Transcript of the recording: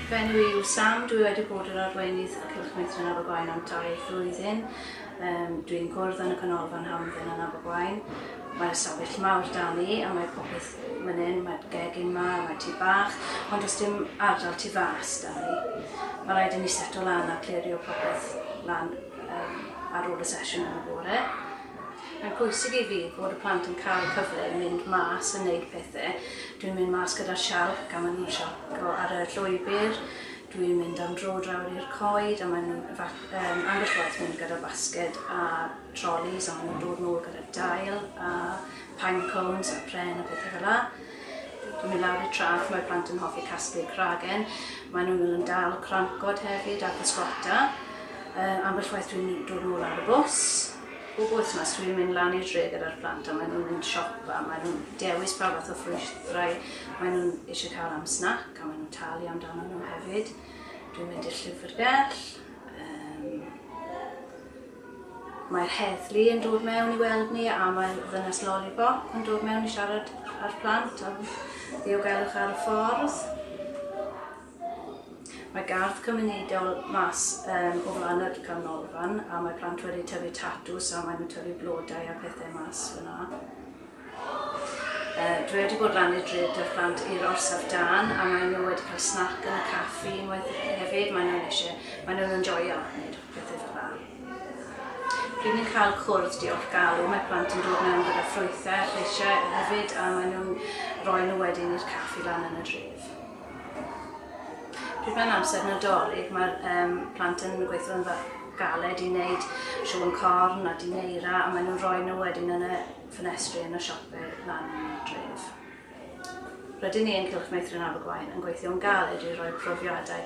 Fy enw i yw Sam, dwi wedi bod yr Arweinydd o Cylch Meithrin Abergwaun am dair flwyddyn. Dwi'n gwrdd yn y Canolfan Hamdden yn Abergwaun. Mae'r ystafell mawr da ni a mae popeth fan hyn, mae'r gegin ma, mae tŷ bach, ond does dim ardal tu fas da ni. Mae rhaid i ni seto lan a clirio popeth lan ar ôl y sesiwn yn y bore. Mae'n pwysig i fi fod y plant yn cael y cyfle i mynd mas a neud pethe. Dwi'n mynd mas gyda'r sialc a maen nhw'n sialco ar y llwybr. Dwi'n mynd am dro draw i'r coed a maen nhw'n yym ambell waith mynd gyda basged a trolis a maen nhw'n dod nôl gyda dail a pine cones a pren a pethe fel 'a. Dwi'n mynd lawr i'r traeth, mae'r plant yn hoffi casglu cragen. Maen nhw'n mynd yn dal crancod hefyd a pysgota. Yy ambell waith dwi'n dod nôl ar y bws. Bob wythnos dwi'n mynd lan i'r dre gyda'r plant a maen nhw'n mynd siop a maen nhw'n dewis pa fath o ffrwythrau maen nhw'n eisiau cael am snac a maen nhw'n talu amdano nhw hefyd. Dwi'n mynd i'r llyfrgell. Um, Mae'r heddlu yn dod mewn i weld ni a mae ddynas Lollipop yn dod mewn i siarad â'r plant am ddiogelwch ar y ffordd. Mae gardd cymunedol mas yym o flan yr canolfan a mae plant wedi tyfu tatws a maen nhw'n tyfu blodau a pethau mas fyna. Uh, dwi wedi bod lan i'r dre dy'r plant i'r orsaf dan a maen nhw wedi cael snac yn y caffi unwaith hefyd. Maen nhw'n eisiau, maen nhw'n enjoyo wneud pethau fel yna. Pryd ni'n cael cwrdd diolch galw, mae plant yn dod mewn gyda ffrwythau a lleisiau hefyd a maen nhw'n rhoi nhw wedyn i'r caffi lan yn y dref. Pryd mae'n amser Nadolig mae'r um, plant yn gweithio yn galed i wneud siôn corn a dineira a maen nhw'n rhoi nhw wedyn yn y ffenestri yn y siopau lan dref. Rydyn ni yn Cylch Meithrin Abergwaun yn gweithio'n galed i roi profiadau